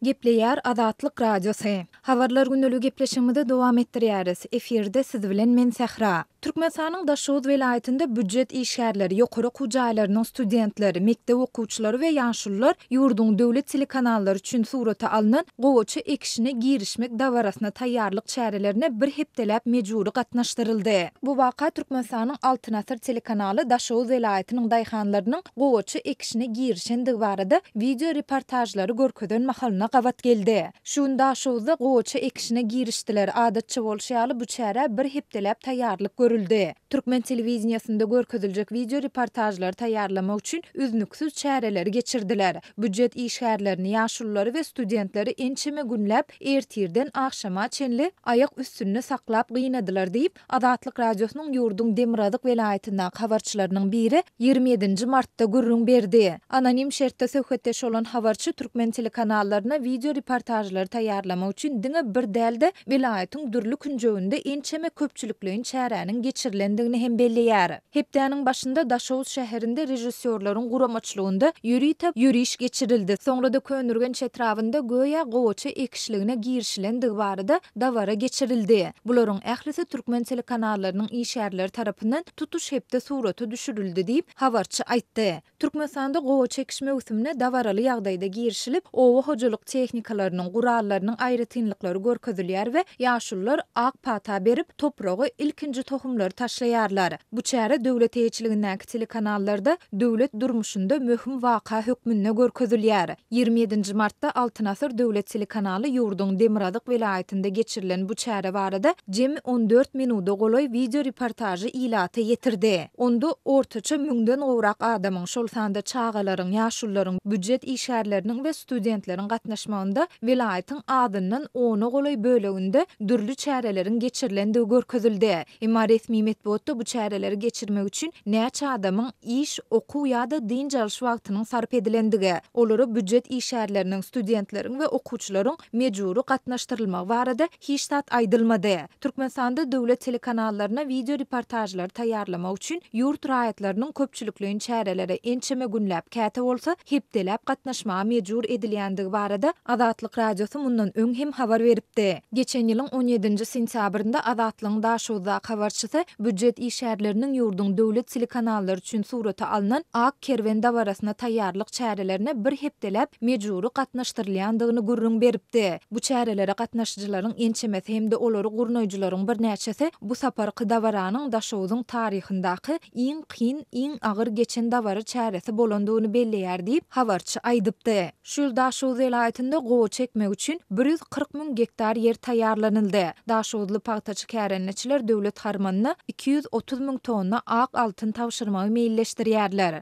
Gepleýär Azatlyk Radiosy. Habarlar gündelige gepleşigimizi dowam etdirýäris. Efirde siz bilen men Sähra. Türkmenistanyň Daşoguz welaýatynda býujet işgärleri, ýokary okuw jaýlarynyň studentleri, mekdep okuwçylary we ýaşulular ýurduň döwlet telekanallary üçin surata alnan gowaça ekişine girişmek dabarasyna taýýarlyk çärelerine bir hepdeläp mejbury gatnaşdyryldy. Bu waka Türkmenistanyň Altyn asyr telekanaly Daşoguz welaýatynyň daýhanlarynyň gowaça ekişine girişendigi barada wideo reportažlary görkezen mahalyna gabat geldi. Şu gün Daşoguzda gowaça ekişine girişdiler, adatça bolşy ýaly bu çärä bir hepdeläp taýýarlyk görüldi. Türkmen telewideniýesinde görkeziljek wideo reportažlary taýýarlamak üçin üznüksiz çäreleri geçirdiler. Býujet işgärlerini, ýaşululary we studentleri ençeme günläp ertirden agşama çenli aýak üstünde saklap gynadylar diýip, Azatlyk Radiosynyň ýurduň Demirgazyk welaýatyndaky habarçylarynyň biri ýigrimi ýedinji martda gürrüň berdi. Anonim şertde söhbetdeş bolan habarçy türkmen telekanallaryna wideo reportažlary taýýarlamak üçin diňe bir däl-de, welaýatyň dürli künjeginde ençeme köpçülikleýin çäräniň geçirilendigini hem belleýär. Hepdäniň başynda Daşoguz şäherinde režissýorlaryň guramaçylygynda ýörite ýöriş geçirildi, soňra-da Köneürgenç etrabynda göýä gowaça ekişligine girişilendigi barada dabara geçirildi. Bularyň ählisi türkmen telekanallarynyň işgärleri tarapyndan tutuş hepde surata düşürildi diýip, habarçy aýtdy. Türkmenistanda gowaça ekiş möwsümine dabaraly ýagdaýda girişilip, oba hojalyk tehnikalarynyň, gurallarynyň aýratynlyklary görkezilýär we ýaşulular ak pata berip, topraga ilkinji tohumlary taşlaýarlar. Bu çäre döwlet eýeçiligindäki telekanallarda döwlet durmuşynda möhüm waka hökmünde görkezilýär. Ýigrimi ýedinji martda Altyn asyr döwlet telekanaly ýurduň Demirgazyk welaýatynda geçirilen bu çäre barada jemi on dört minuda golaý wideo reportažy ilata ýetirdi. Onda ortaça müňden gowrak adamyň, şol sanda çagalaryň, ýaşulularyň, býujet işgärleriniň we studentleriň gatnaşmagynda welaýatyň azyndan ona golaý böleginde dürli çäreleriň geçirilendigi görkezildi. Emma resmi metbugatda bu çäreleri geçirmek üçin näçe adamyň iş, okuw ýa-da dynç alyş wagtynyň sarp edilendigi, olara býujet işgärleriniň, studentleriň we okuwçylaryň mejbury gatnaşdyrylmagy barada hiç zat aýdylmady. Türkmenistanda döwlet telekanallaryna wideo reportažlary taýýarlamak üçin ýurt raýatlarynyň köpçülikleýin çärelere ençeme günläp, käte bolsa, hepdeläp gatnaşmaga mejbur edilýändigi barada Azatlyk Radiosy mundan öň hem habar beripdi. Geçen ýylyň on ýedinji sentýabrynda Azatlygyň Daşoguzdaky habarçysy býujet işgärleriniň ýurduň döwlet telekanallary üçin surata alnan Ak kerwen dabarasyna taýýarlyk çärelerine bir hepdeläp mejbury gatnaşdyrylýandygyny gürrüň beripdi. Bu çärelere gatnaşyjylaryň ençemesi hem-de olary gurnaýjylaryň birnäçesi bu saparky dabaranyň Daşoguzyň taryhyndaky iň kyn, iň agyr geçen dabara çäresi bolandygyny belleýär diýip, habarçy aýdypdy. Şu ýyl Daşoguz welaýatynda gowaça ekmek üçin bir ýüz kyrk müň gektar ýer taýýarlanyldy. Daşoguzly pagtaçy kärendeçiler döwlet harmanyna iki ýüz otuz müň tonna ak altyn tabşyrmagy meýilleşdirýärler.